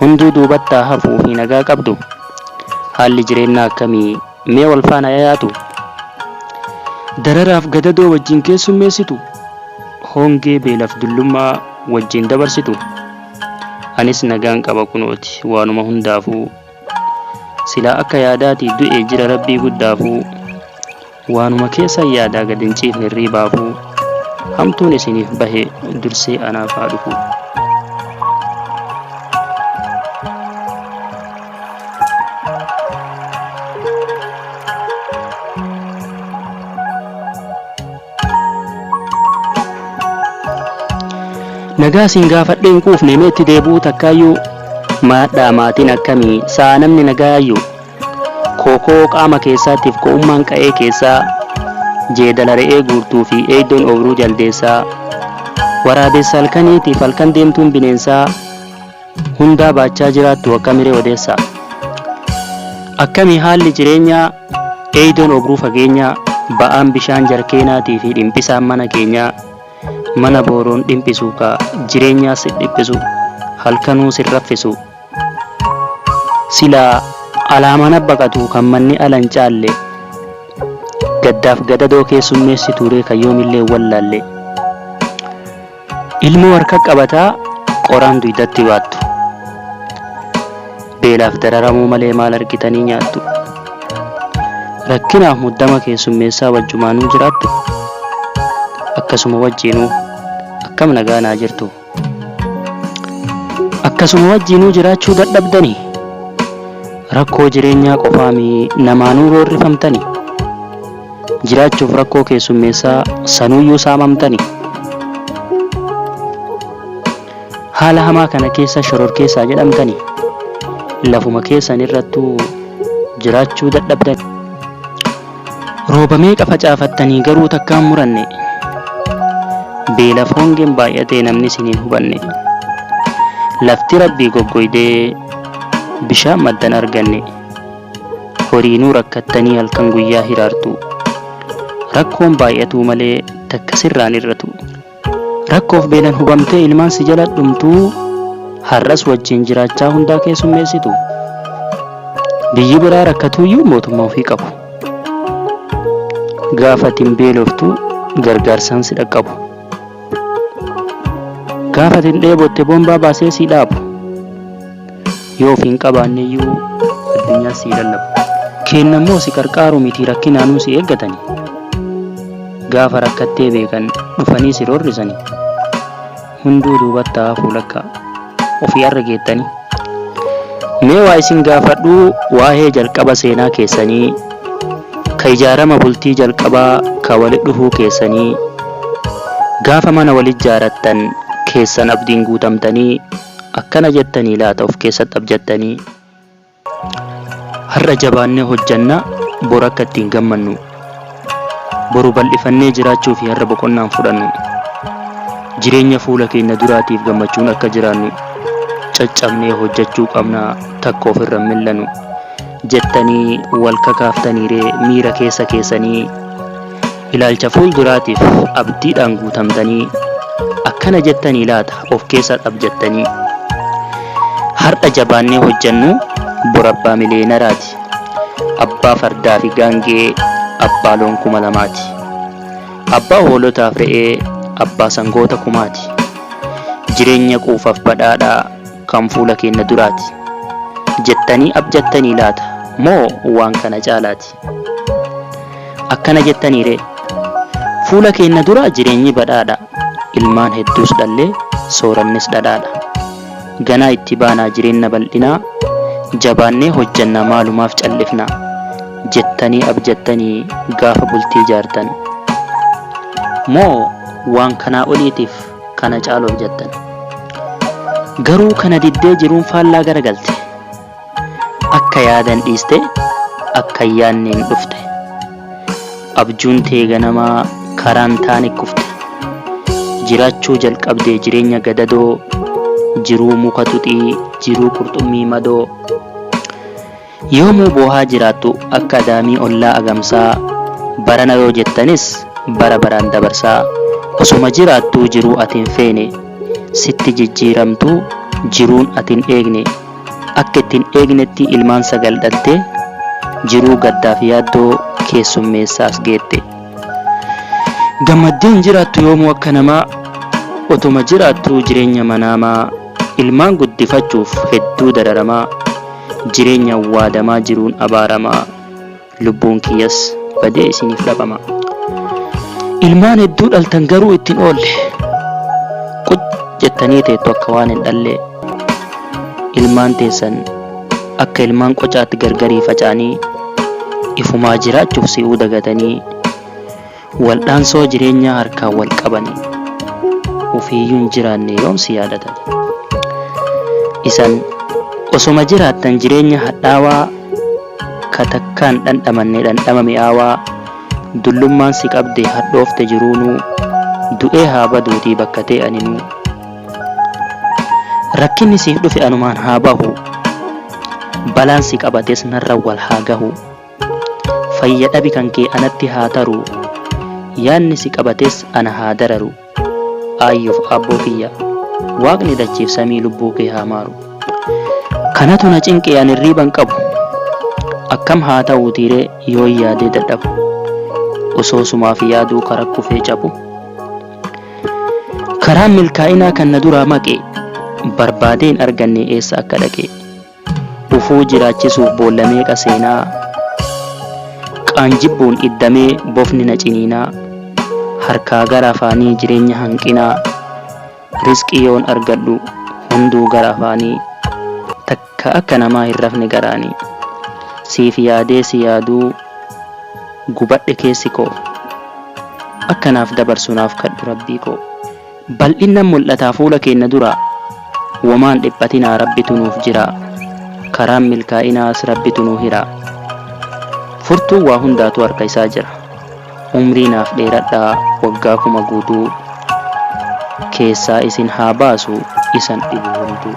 Hunduu duubatti haa hafuu fi nagaa qabdu? Haalli jireennaa akkami? Mee wal faana yayaatu? Dararaaf gadadoo wajjin keessummeessitu? Hongee beelaf dullummaa wajjin dabarsitu? Anis nagaan qaba kunooti waanuma hundaafuu. Silaa akka yaadaati du'e jira Rabbii guddaafuu. Waanuma keessan yaadaa gad hin ciifne hirriibaafuu hamtuun isiniif bahe dursee anaaf haa dhufu. Nagaa siin gaafadhee hin quufne mee itti deebi'uu takkaayyuu maadhaa maatiin akkamii sa'a namni nagaayyuu Kookoo qaama keessaa tif ko'ummaan qa'ee keessaa Jeedala re'ee guurtuu fi eeydoon ooyruu jaldeessaa Waraabessa halkanii tiif halkan deemtuun bineensaa Hundaa baachaa jiraattu akkami ree odeessaa Akkami haalli jireenyaa eeydoon ooyruu fageenyaa Ba'aan bishaan jarkeenaatii fi dhimphisaan mana keenyaa Mana booroon dhimphisu ka jireenyaa si dhiphisu Halkanuu sin raffisu Silaa alaamaan abba qatuu kan manni ala hin caalle Gaddaaf gadadoo keessummeessituu ree kan yoomillee hin wallaalle Ilmoo harka qabataa qoraan duydatti baattu Beelaaf dararamuu malee maal argitanii nyaattu Rakkinaaf muddama keessummeessaa wajjumaanuu jiraattu Akkasuma wajjiinuu akkam nagaa naa jirtu Akkasuma wajjiinuu jiraachuu dadhabdanii? Rakkoo jireenyaa qofaa mii namaanuu roorrifamtanii? Jiraachuuf rakkoo keessummeessaa sanuyyuu saamamtanii? Haala hamaa kana keessa shororkeessaa jedhamtanii? Lafuma keessan irrattuu jiraachuu dadhabdanii? Rooba meeqa facaafattanii garuu takkaa hin muranne. Beelaf hongeen baay'atee namni isin hin hubanne. Lafti rabbii goggoydee bishaan maddan arganne. Horiinuu rakkattanii halkan guyyaa hiraartu. Rakkoon baay'atuu malee takka sirraan hir'atu. Rakkoof beelan hubamtee ilmaan si jala dhumtuu har'as wajjin jiraachaa hundaa keessummeessitu. Biyyi biraa rakkatuuyyuu mootummaa ofii qabu. Gaafa ati hin beeloftu gargaarsaan si dhaqqabu. Gaafa ati hin dheebotte boombaa baasee si dhaabu. Yoo of hin qabaanneyyuu addunyaa sii lallabu. Keennammoo si qarqaaru mitii rakkinaanuu si eeggatani. Gaafa rakkattee beekan dhufanii si roorrisani. Hunduu duubattaa hafuu lakkaa. Ofii arra geettani. Mee waa isin gaafadhu waahee jalqaba seenaa keessanii, ka ijaarama bultii jalqabaa ka wali dhufuu keessanii, gaafa mana wali ijjaarattan keessan abdiin guutamtanii, Akkana jettanii laata of keessatti abjattanii? Har'a jabaannee hojjanna, bor akka itti hin gammannu. Boru bal'ifannee jiraachuu fi har'a boqonnaa hin fudhannu. Jireenya fuula keenya duraatiif gammachuun akka jiraannu caccabnee hojjachuu qabna, takka ofirra hin mil'anu. Jettanii wal kakaaftaniiree miira keessa keessanii Ilaalcha fuulduraatiif abdiidhaan guutamtanii akkana jettanii laata of keessaa xabjattanii? Har'a jabaannee hojjennu bor abbaa miliyeenaraati. Abbaa fardaa fi gaangee, abbaa loon kuma lamaati. Abbaa hoolotaaf re'ee, abbaa sangoota kumaati. Jireenya quufaaf badhaadhaa kan fuula keenya duraati. Jettanii abjattanii laata moo waan kana caalaati? Akkana jettanii ree? Fuula keenna dura jireenyi badhaadha, ilmaan hedduus dhallee, soorannis dhadhaadha. Ganaa itti baanaa jireenna bal'inaa, jabaannee hojjanna maalumaaf callifna? jettanii abjattanii gaafa bultii ijaartan? Moo waan kanaa oliitiif kana caalu abjattan? Garuu kana diddee jiruun faallaa garagalte. Akka yaadan dhiiste akka hin yaadneen dhufte Abjuun tee ganamaa karaa hin taane kufte Jiraachuu jalqabde jireenya gadadoo Jiruu muka tuxii jiruu qurxummii madoo Yoomuu boohaa jiraattu akka adaamii ollaa agamsaa Barana yoo jettanis bara baraan dabarsaa Osoma jiraattuu jiruu ati hin feene Sitti jijjiiramtuu jiruun ati hin eegne Akka itti hin eegnetti ilmaan sagal dhaltee jiruu gaddaaf yaaddoo keessummeessaa as geette. Gammaddee hin jiraattu yoomuu akka namaa otuma jiraattuu jireenya manaamaa ilmaan guddifachuuf hedduu dararamaa jireenya waadamaa jiruun abaaramaa. lubbuun kiyyas badee isiniif dhabama. Ilmaan hedduu dhaltan garuu ittiin oolle. Quc jettanii teettu akka waan hin dhallee. Ilmaan teessan akka ilmaan qocaatti gargarii faca'anii ifumaa jiraachuuf si'uu dagatanii Waldhaansoo jireenyaa harkaan wal qabani ufiiyyuu hin jiraanne yoom si yaadatani? Isan osoma jiraattan jireenya hadhaawaa ka takkaa hin dhandhamanne dhandhama mi'aawaa dullummaan si qabdee hadhoofte jiruunuu du'ee haa baduutii bakka tee aninuu rakkinni siif dhufe anumaan haa bahu balaan si qabates narra wal haa gahu. Fayya dhabi kan kee anatti haa taruu Yaadni si qabates ana haa dararu Aayyof aabboo kiyya Waaqni dachiif samii lubbuu kee haa maaru Kanatu na cinqe an irriiban qabu Akkam haa ta'uutiiree yoon yaadee dadhabu Osoo sumaaf yaaduu kara kufee cabu Karaan milkaa'inaa kan na duraa maqe Barbaadee hin arganne eessa akka dhaqe dhufuu jiraachisuuf boolla meeqa seenaa Qaan jibbuun iddamee bofni na ciniinaa Harkaa gara afaanii jireenya hanqinaa Risqii yoon argadhu hunduu gara afaanii Takka akka namaa hin rafne garaanii Siif yaadee si yaaduu gubadhe keessi koo Akka naaf dabarsu naaf kadhu Rabbii koo. Bal'innan mul'ataa fuula keenna duraa Womaan dhiphatinaa Rabbitu nuuf jiraa Karaan milkaa'inaas Rabbitu nuu hiraa Furtuun waa hundaatuu harka isaa jira Umrii naaf dheeradhaa waggaa kuma guutuu Keessaa isin haa baasu isan dhibu hunduu.